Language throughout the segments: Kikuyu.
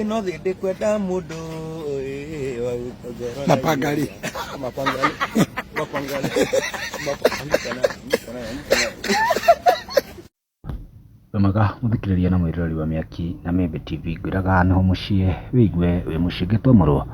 ĩno thĩ ndĩkwenda mũndũ ĩĩ, wa gũkũngũra na pangari Mapangale. Mapangale. Mapangale. Wemaga mũthikĩrĩria na mwĩroreri wa mĩaki na mĩmbe TV ngwĩraga nĩho mũciĩ wĩigue wĩ mũciĩ ngĩtomorwo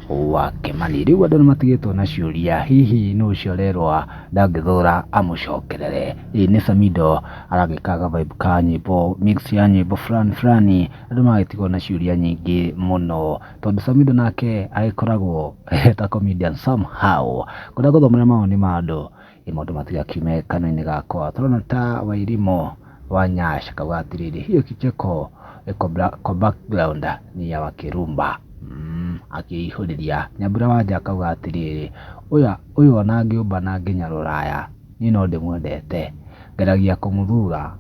wa Kĩmani. Rĩu andũ nĩmatigĩtwo na ciũria hihi nũ ũcio arerwa ndangĩthũra amũcokerere. Ĩĩ nĩ Samido aragĩka ga vibe ka nyĩmbo mix ya nyĩmbo fulani fulani andũ magagĩtigwo na ciũria nyingĩ mũno tondũ Samido nake agĩkoragwo ta comedian somehow kũrĩa gũthomera mawoni ma andũ ĩ maũndũ matigakiume kanua-inĩ gakwa tũrona ta Wairimũ wa Nyash akauga atĩrĩrĩ hiyo kicheko iko bra- kwa background ni ya wakirumba mm, akĩihũrĩria nyambura wanja akauga atĩrĩrĩ ũyũ ũyũ ona ngĩũmba na nginya rũraya Niĩ no ndĩmwendete. Ngeragia kũmũthura.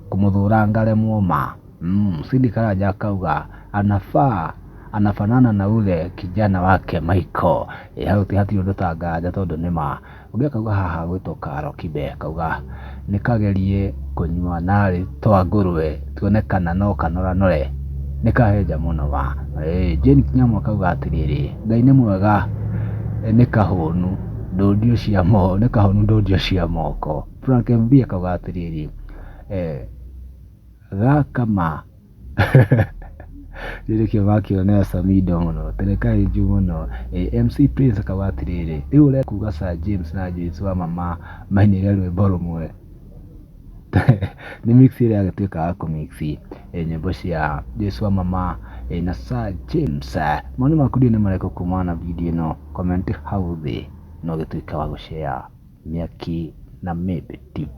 Kũmũthũra ngaremwo ma. Umm, Cindy Karanja akauga, Anafaa, anafanana na ule kijana wake Michael. Ĩ hau ti hatirĩ ũndũ ta nganja tondũ nĩ ma. Ũngĩ akauga haha hagwĩtwo Karo Kibe, akauga, Nĩ kagerie kũnyua narĩ twa ngũrũe. tuone kana no kanoranore nĩ kahenja mũno ma. Jane Kinyamu akauga atĩrĩrĩ, Ngai nĩ mwega nĩ kahũnu ndũndio cia moko, nĩ kahũnu ndũndio cia moko. Frank MB akauga atĩrĩrĩ, gaka ma. Rĩu nĩkĩo makĩonera Samido mũno, atĩ nĩ kahenju mũno. MC Prince akauga atĩrĩrĩ, rĩu ũrenda kuga Sir James na Joyce Wamama mainire rwĩmbo rũmwe? Nĩ mix ĩrĩa ĩragĩtuĩka ya kũ mix nyĩmbo cia Jesũ wa mama na Sir James. Mawoni maku ndiũĩ nĩ marĩkũ kumana na video ĩno, comment hau thĩ na ũgĩtuĩke wa gũ share Mĩaki na Mĩndũ TV.